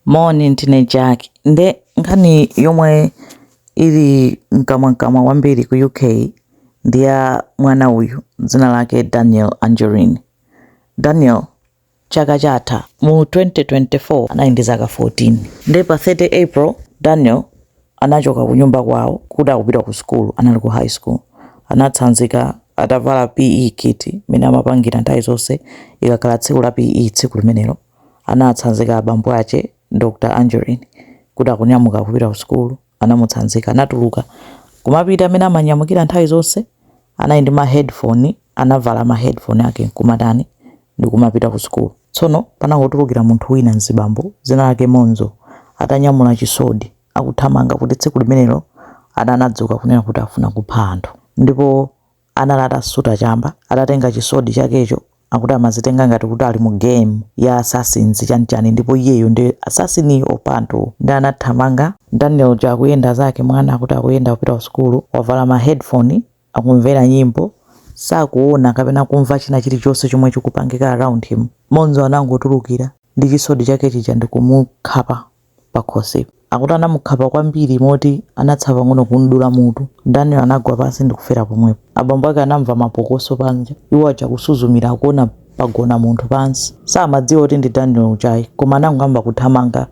Moni, ndine Jack. Nde nkhani yomwe ili mkamwamkamwa kwambiri ku UK ndi ya mwana uyu dzina lake Daniel Anjorin. Daniel chaka chatha mu 2024 anali ndi zaka 14. Nde pa 30 April, Daniel anachoka kunyumba kwawo kuti akupita ku sukulu, anali ku high school. Anatsanzika atavala PE kit mmene amapangira nthawi zonse ikakhala tsiku la PE tsiku limenelo. anatsanzika abambo ache Dr Anjorin kuti akunyamuka kupita ku sukulu anamutsanzika anatuluka kumapita mmene amanyamukira nthawi zonse anali ndi ma headphone anavala ma headphone ake nkumatani ndikumapita ku sukulu tsono panangotulukira munthu wina mzibambo dzina lake Monzo atanyamula chisodi akuthamanga kuti tsiku limenelo anadzuka kunena kuti afuna kupha anthu ndipo anali atasuta chamba, atatenga chisodi chakecho, akuti amazitenga ngati kuti ali mu game ya assassins chani chani ndipo iyeyo ndi assassin opha anthu nde anathamanga, Daniel uja akuyenda zake mwana akuti akuyenda kupita ku sukulu wavala ma headphone akumvera nyimbo sakuona kapena kumva china chilichonse chomwe chikupangika around him, Monzo anangotulukira ndi chisodi chake chija ndikumukhapa. pakhosipo. Akuti anamukhapa kwambiri moti anatsala pang'ono kum'dula mutu. Daniel anagwa pansi ndi kufera pomwepo. Abambo ake anamva mapokoso panja. Iwo aja kusuzumira akuona pagona munthu pansi. Samadziwa kuti ndi Daniel uja ayi, koma anangoyamba kuthamanga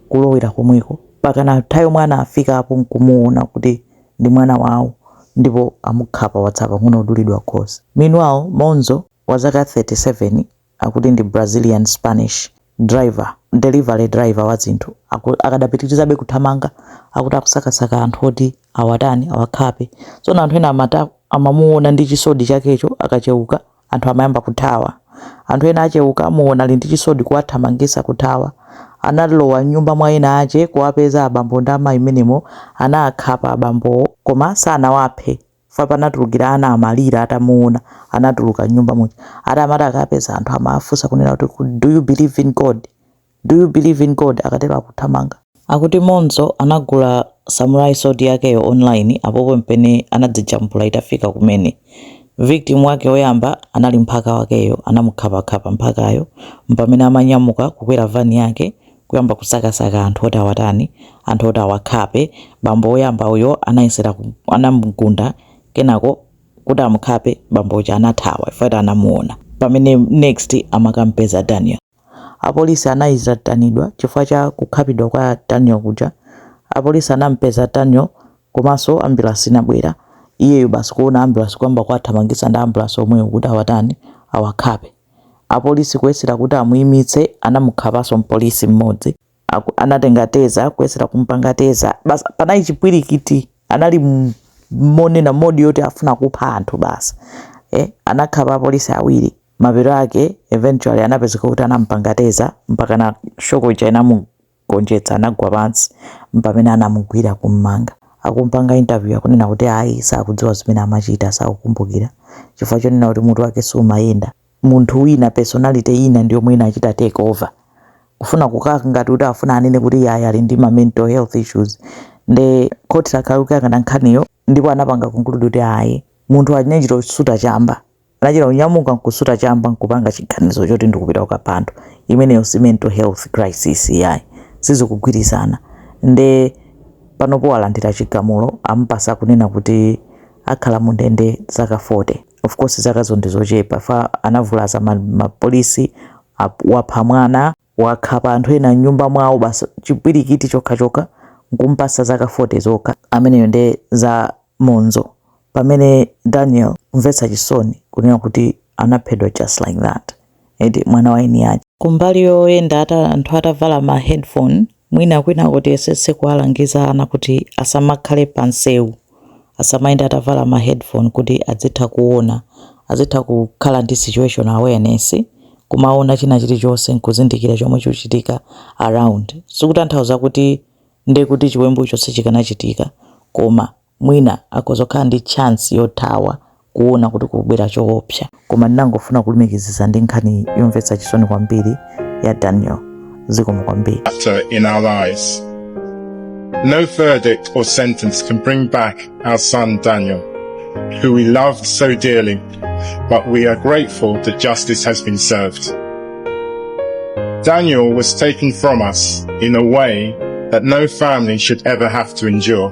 kulowera komweko. Mpakana nthawi yomwe anafikapo n'kumuona kuti ndi mwana wawo ndipo amukhapa watsala pang'ono kudulidwa khosi. Meanwhile, Monzo, wazaka 37, akuti ndi Brazilian Spanish driver, delivery driver wa zinthu, akadapitirizabe kuthamanga akuti akusakasaka anthu oti awatani awakhape. Tsono anthu ena amati akamuona ndi chisodi chakecho akacheuka anthu amayamba kuthawa. Anthu ena acheuka amuona ali ndi chisodi kuwathamangisa kuthawa. Analowa mnyumba mwa ena ache kuwapeza abambo ndi amayi mmenemo anaakhapa abambowo koma sanawaphe. chifukwa panatulukira ana amalira atamuona anatuluka mnyumba muja ati amati akapeza anthu amawafunsa kunena kuti do you believe in god do you believe in god akatero akuthamanga akuti monzo anagula samurai sword yakeyo online apapa mpamene anadzijambula itafika kumene victim wake oyamba anali mphaka wakeyo anamukhapakhapa mphakayo mpamene amanyamuka kukwera vani yake kuyamba kusakasaka anthu oti awatani, anthu oti awakhape. Bambo woyamba uyo anayesera ku, anamugunda, kenako kuti amukhape, bambo uja anathawa chifukwa choti anamuwona. Mpamene next amakampeza Daniel. Apolisi anayitanidwa chifukwa cha kukhapidwa kwa Daniel kuja. Apolisi anampeza Daniel komanso ambulance inabwera. Iyeyo basi kuwona ambulance kuyamba kuwathamangitsa ndi a ambulance omwewo kuti awatani, awakhape. Apolisi kuyesera kuti amuimitse anamukhapanso mpolisi mmodzi, anatenga teza kuyesera kumpanga teza basi panali chipwirikiti anali monena modi yoti afuna kupha anthu basi, anakhapa apolisi awiri mapeto ake eventually anapezeka kuti anampanga teza mpaka na shoko ija inamu gonjetsa anagwa pansi mpamene anamugwira kummanga akumpanga interview akunena kuti ayi sakudziwa zimene amachita sakukumbukira chifukwa chonena kuti mutu wake sumayenda munthu wina personality ina ndi yomwe inachita take over kufuna kukhala ngati kuti afuna anene kuti yayi ali ndi ma mental health issues nde khoti lakhala likuyang'ana nkhaniyo ndipo anapanga conclude kuti ayi munthu achine chito suta chamba anachita kunyamuka nkusuta chamba nkupanga chiganizo choti ndikupita kukapha anthu imeneyo si mental health crisis yayi sizikugwirizana nde panopo walandira chigamulo amupasa kunena kuti akhala mu ndende zaka 40 of course zakazo ndi zochepa fa anavulaza mapolisi wapha mwana wakhapa anthu ena mnyumba mwawo basi chipwirikiti chokhachokha nkumpatsa zaka 40 zokha ameneyo nde za Monzo pamene Daniel kumvetsa chisoni kunena kuti anaphedwa just like that eti mwana wa eni ache kumbali yoyenda anthu atavala ma headphone mwina kwinaku tiyesetse kuwalangiza ana kuti asamakhale pa nsewu asamayende atavala ma headphone kuti adzitha kuona, azitha kukhala ndi situation awareness, kumaona china chilichonse nkuzindikira chomwe chikuchitika around. Sikutanthauza kuti ndekuti chiwembucho sichikanachitika koma mwina akhoza kukhala ndi chance yothawa kuona kuti kukubwera choopsa. Koma ndinangofuna kulumikizitsa ndi nkhani yomvetsa chisoni kwambiri ya Daniel. Zikomo kwambiri. chapter in our lives. No verdict or sentence can bring back our son Daniel, who we loved so dearly, but we are grateful that justice has been served. Daniel was taken from us in a way that no family should ever have to endure.